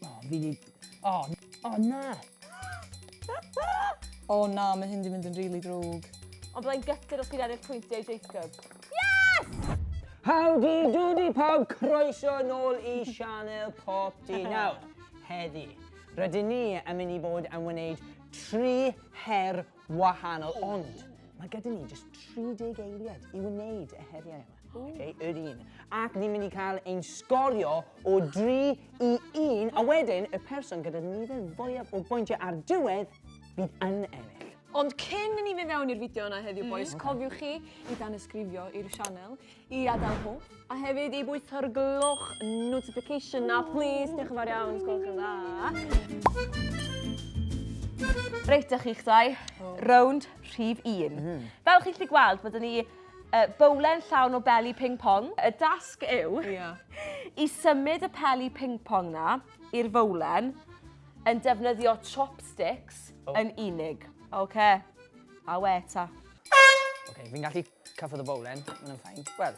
O, fi di... O, o na! o na, mae hyn di mynd yn rili really drwg. Ond byddai'n gytid os ti'n ennill pwyntiau Jacob. Yes! Howdy doody pawb, croeso yn ôl i Sianel Pop Di Nawr. Heddi, rydyn ni yn mynd i bod yn wneud tri her wahanol, ond mae gyda ni jyst 30 eiliad i wneud y heriau yma. Okay, yr un. Ac ni'n mynd i cael ein sgorio o 3 i 1, a wedyn y person gyda nifer fwyaf o bwyntiau ar diwedd fydd yn ennill. Ond cyn ni fe fewn i'r fideo yna heddiw, mm. boys, mm. cofiwch chi i dan ysgrifio i'r sianel, i adael hw, a hefyd i bwytho'r gloch notification na, please, diolch yn fawr iawn, sgwrwch yn dda. Reit, da chi'ch dau, rownd rhif un. Mm -hmm. Fel chi'n lli gweld, byddwn ni Y bowlen llawn o beli ping pong. Y dasg yw i symud y peli ping pong na i'r fowlen yn defnyddio chopsticks yn unig. Oce, a we ta. Oce, fi'n gallu cyffwrdd y bowlen, mae'n yn ffain. Wel.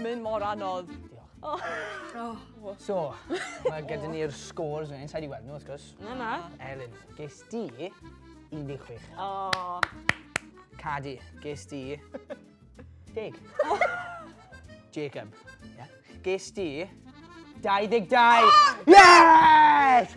Mae'n mor anodd. Diolch. O. O. So, mae gyda ni'r scores yn inside i weld nhw, wrth gwrs. Na, na. Elin, ges di 16. O. Cadi, ges di... Deg. Jacob. Yeah. Ges di... 22! Yes!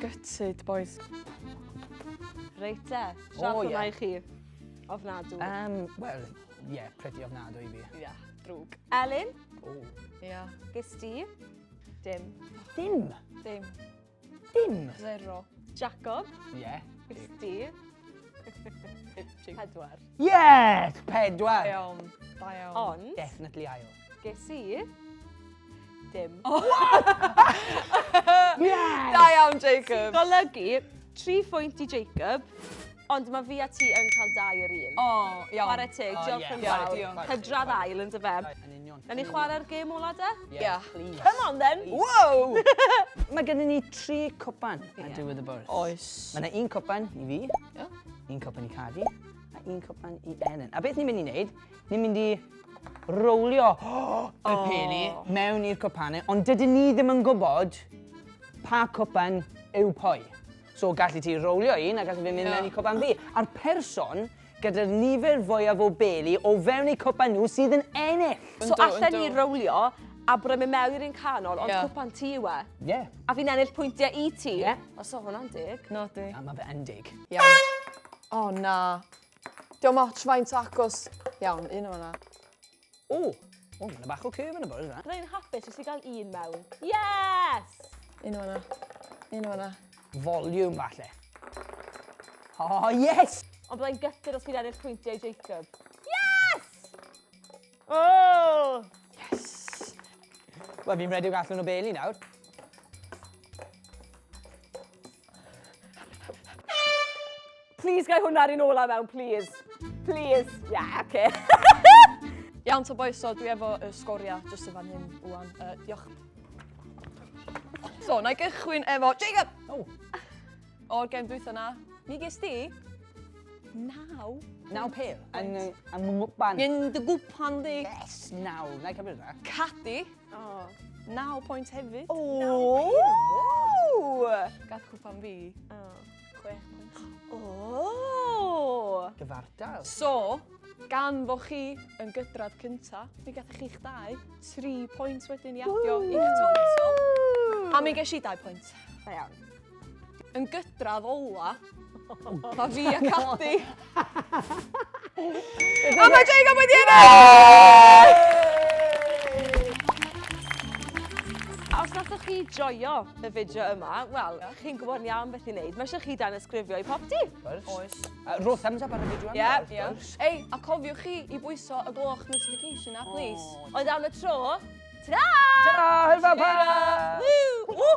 Gutted, boys. Reit te, siarad oh, yeah. i chi. Ofnadw. Um, Wel, ie, yeah, pretty ofnadw i fi. Ie, yeah, drwg. Elin? O. Oh. Ie. Yeah. Ges ti? Dim. Dim? Dim. Dim. Zero. Jacob. Ie. Yeah. Steve. Pedwar. Yes! Pedwar. Iawn. Da iawn. Ond... Definitely ail. Ges i... Dim. Oh. yes! Da iawn, Jacob. Golygu, tri phwynt i Jacob. Ond mae fi a ti yn cael dau yr un. O, iawn. Chwarae teg, diolch yn fawr. Hydradd ail, yn dyfe? Yn union. Nawn ni chwarae'r gêm ola de? Ie, please. Come on then! Wow! Mae gennym ni tri cwpan ar diwedd y bwrdd. Oes. Mae yna un cwpan i fi, un cwpan i Cadi, a un cwpan i Elen. A beth ni'n mynd i wneud, ni'n mynd i rowlio y peli mewn i'r cwpanau, ond dydyn ni ddim yn gwybod pa cwpan yw pwy. So galli ti rowlio un a galli fe mynd mewn i cwpan fi. A'r person gyda'r nifer fwyaf o beli o fewn eu cwpan nhw sydd yn ennill! So allen ni rowlio a bod e'n mynd mewn i'r un canol ond cwpan ti yw e? Ie. A fi'n ennill pwyntiau i ti? Ie. O so hwnna'n deg. Nadi. Na, ma fe yn deg. Iawn. O na. Dio'm ots faint o acos. Iawn, un o hwnna. O! O, mae'n bach o curve yn y bwrdd yna. Byddai yn hapus jyst i gael un mewn. Yes! Un o'na. Un o'na. Volume, falle. Oh, yes! Ond byddai'n gytid os fi'n ennill pwyntiau Jacob. Yes! Oh! Yes! Wel, fi'n redig allan o beli nawr. Please, gai hwnna rhan ola mewn, please. Please. Yeah, okay. Iawn, ta boys, so dwi efo y sgoriau jyst yn fan hyn, Iwan. Uh, diolch. So, na i gychwyn efo Jacob! Oh. O'r gem dwytha na, mi ges di naw. Naw pil? Yn, yn mwpan. Yn dy gwpan di. Yes, naw. Na i cymryd yna. Cadi. O, naw pwynt hefyd. O! Gath cwpan fi. O, chwech pwynt. O! Gyfartal. So, gan fo chi yn gydradd cynta, mi gathoch chi'ch dau, tri pwynt wedyn i adio i'ch total. A mi gesh i dau pwynt. Da iawn. Yn gydradd ola, mae fi a Cadi. a mae Jay Gab wedi ennill! Os nathoch chi joio y fideo yma, wel, chi'n gwybod ni am beth i wneud. Mae eisiau chi dan ysgrifio i popty. Oes. Rho thumbs up ar y fideo yma. Ie. Ei, a cofiwch chi i bwyso y gloch notification a, please. Oedd am y tro. Ta-ra! Ta-ra! Hwyl fawr pa! Woo! Woo!